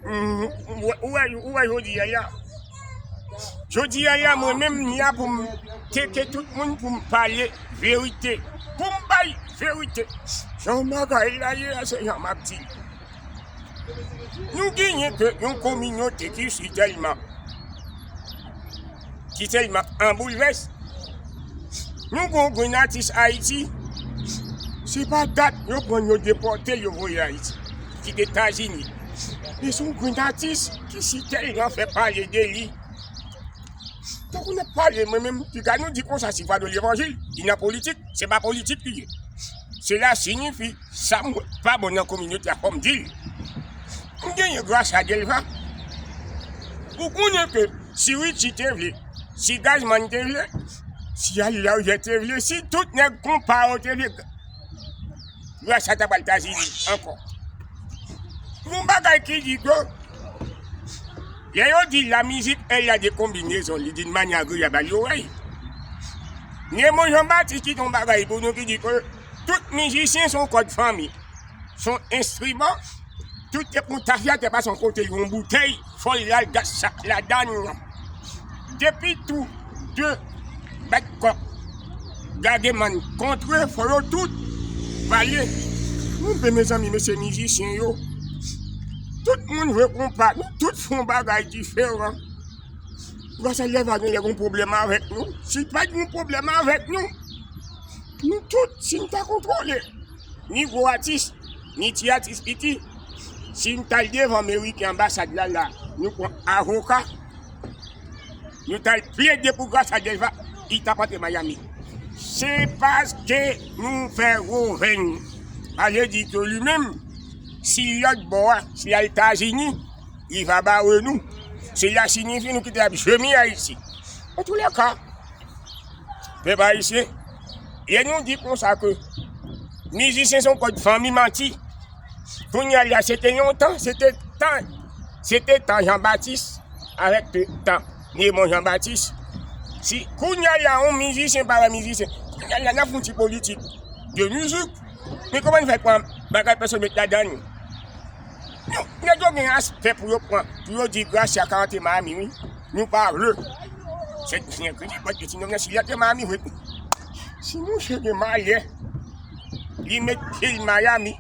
Ou wè jodi a ya, jodi a ya mwen menm ni a pou m tete tout moun pou m pale verite, pou m bay verite. Jan bagay la ye a se jan m ap di. Nou genyen ke yon kominote ki si tèlman. ki telman an boulvès. Nou gon grenn atis Ayiti, se pa dat yo pran yo depòte l yo voye Ayiti, ki te Etazini. Li se yon grenn atis ki si telman fè pale de li. Tankou n ap pale mwen menm, ki ka nou di konsa si pa de levanjil, li nan politik, se pa politik li ye. Sela sinifi. Sam wè k pa bon nan kominote a fòm dil m genyen gras a Delva ou konnen ke si Richie te vle si Gazzman te vle si Alilawje te vle si tout nèg konpa yo te vle gras a ta pral tazili ankò gon bagay ki di ke lè yo di la mizik el a de kombinezon li d'une mani agreab al l'oreille Nemo Jean Baptiste ki ton bagay pou nou ki di ke. Tout mizisyen son kòd fanmi, son enstriman, tout te pran tafya te pasan kote yon boutèy fòl lal gas sak ladann lan. Depi tou de bat kòk gage man kontre fò yo tout valye. Nou pe mezanmi mesye mizisyen yo, tout moun jwe konpa, nou tout fon bagay diferan. Gwaselye va gen lè gon pwoblèm avèk nou, si pat gon pwoblèm avèk nou. Nou tout, si nou ta kontwole ni gwo atis, ni ti atis piti, si nou tal devan meri ki anbasad la la, nou pran avoka, nou tal plede pou Gracia Delva, li tap antre Miami. Se paske nou fè gwo venn. Sa vle di ke li menm, si lòt bò a, si al Etazini, li va bare nou. Se la sinifi nou kite ap jemi Ayiti. An tou lè ka. Pèp ayisyen, yè nou di konsa ke mizisyen son kòd fanmi manti, kounya la se te yon tan, se te tan, se te tan Jean Baptiste avèk te tan Raymond Jean Baptiste. Si kounya la yon mizisyen pa wè mizisyen, kounya la nan foun ti politik de mizik, men kòman nou fè pran bagay pèsòn met ladan nou? Nèg yo gen aspè pou yo pran, pou yo di Gracia ka antre Miami wi. Nou pa vle. Se ti nèg ki pot ti nèg si li antre Miami vre. Si mouche gen malè, li met pye l Miami,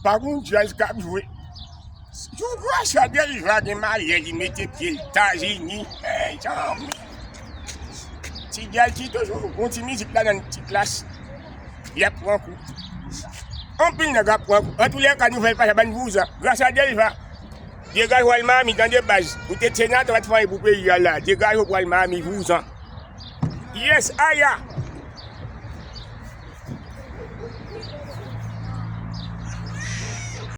pa gon jazz k ap jwe. Jou Gracia Delva gen malè li mete pye l Etazini, mezanmi. Ti jazz ki toujou gon ti mizik ladan l, ti klass. y ap pran kou. Anpil nèg ap pran kou. Antoulèka nouvèl pa sa bann vouzan. Gras a Delva. Degaj w al Miami tande baz. Ou te t senatè w pa t fè anyen pou peyi a la. Degaj w pou al Miami vouzan. Yes Aya.